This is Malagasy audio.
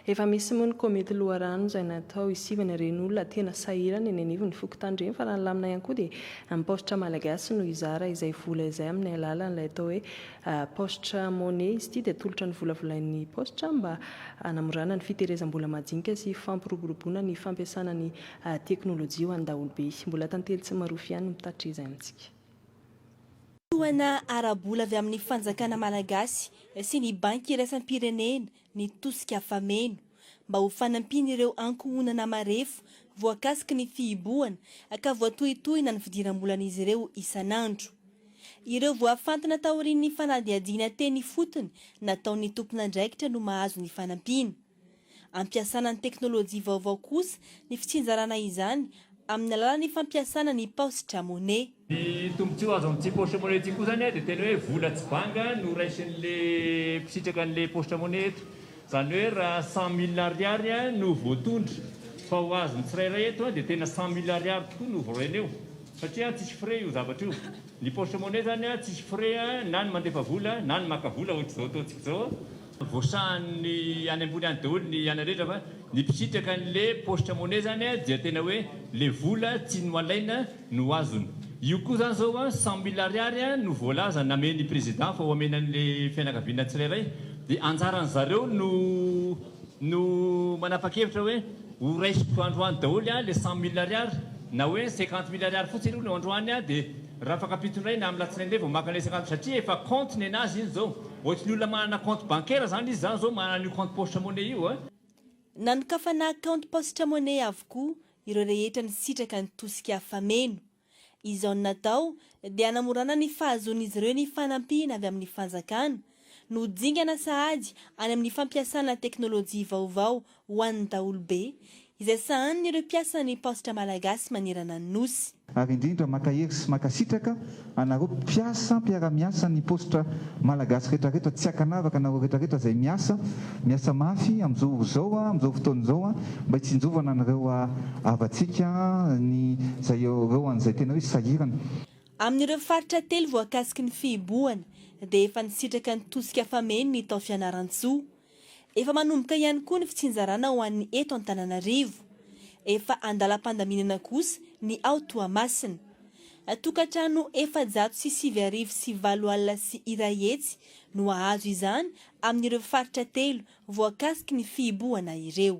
Efa misy moa ny komity loharano izay natao hisivana ireny olona tena sahirana eny anivon'ny fokontany ireny fa raha ny lamina ihany koa dia ny paositra malagasy no hizara izay vola izay amin'ny alalan'ilay atao hoe paositra money izy ity dia atolotra ny volavolain'ny paositra mba hanamorana ny fiterezam-bola majinika sy fampiroboroboana ny fampiasana ny teknolojia ho an'ny daholobe mbola tantely tsy marofy ihany ny mpitatitra izay amintsika Tohana ara-bola avy amin'ny fanjakana malagasy sy ny Banky iraisam-pirenena ny tosika fameno mba ho fanampian'ireo ankohonana marefo voakasiky ny fihibohana ka voatohintohina ny fidiram-bolan'izy ireo isan'andro. Ireo voafantina taorian'ny fanadihadiana teny ifotony nataon'ny tompon'andraikitra no mahazo ny fanampiana. Ampiasana ny teknolojia vaovao kosa ny fitsinjarana izany amin'ny alalan'ny fampiasana ny paositra money. Ny tombontsoa azo amin'ity paositra money ity koa izany dia tena hoe vola tsy banga no raisin'ilay mpisitraka an'ilay paositra money eto. Izany hoe raha cent mille ariary no voatondro fa ho azon'ny tsirairay eto dia tena cent mille ariary tokoa no voaraina eo satria tsisy frais io zavatra io. Ny paositra money izany tsisy frais na ny mandefa vola na ny maka vola ohatr'izao ataontsika izao. Voasahan'ny any ambony any daholo ny ana rehetra fa ny mpisitraka an'le poste monnaie zany dia tena hoe le vola tsy noalaina no azony. Io koa zany zao cent mille ariary no voalaza namen'ny président fa ho amena an'le fianakaviana tsirairay dia anjaran'ny zareo no no manapakevitra hoe ho raisiko androany daholo le cent mille ariary na hoe cinquante mille ariary fotsiny aloha no androany dia Raha afaka ampitsonaina amin'ny latsinainy indray vao maka ilay isan-kanto satria efa compte nenazy iny izao. Ohatry ny olona manana compte bancaire izany izy izany izao manana an'io compte poche money io a! Nanokafana kaonty Poste Money avokoa ireo rehetra nisitraka ny tosika fameno. Izao no natao dia hanamorana ny fahazoan'izy ireo ny fanampiana avy amin'ny fanjakana no dingana sahady any amin'ny fampiasana teknolojia vaovao ho an'ny daholobe, izay sahanin'ireo mpiasan'ny Paositra Malagasy manerana ny Nosy. Ary indrindra mankahery sy mankasitraka anareo mpiasa mpiara-miasan'ny Paositra Malagasy retraretra tsy ankanavaka anareo retraretra izay miasa, miasa mafy amin'izao ora izao, amin'izao fotoana izao mba hitsinjovana an'ireo havatsika ny izay ireo an'izay tena hoe sahirana. Amin'ireo faritra telo voakasiky ny fihibohana dia efa nisitraka ny tosika fameno ny tao Fianarantsoa. Efa manomboka ihany koa ny fitsinjarana ho an'ny eto Antananarivo. Efa an-dalam-pandaminana kosa ny ao Toamasina. Tokantrano efajato sy sivy arivo sy valo alina sy iray hetsy no hahazo izany amin'ireo faritra telo voakasiky ny fihibohana ireo.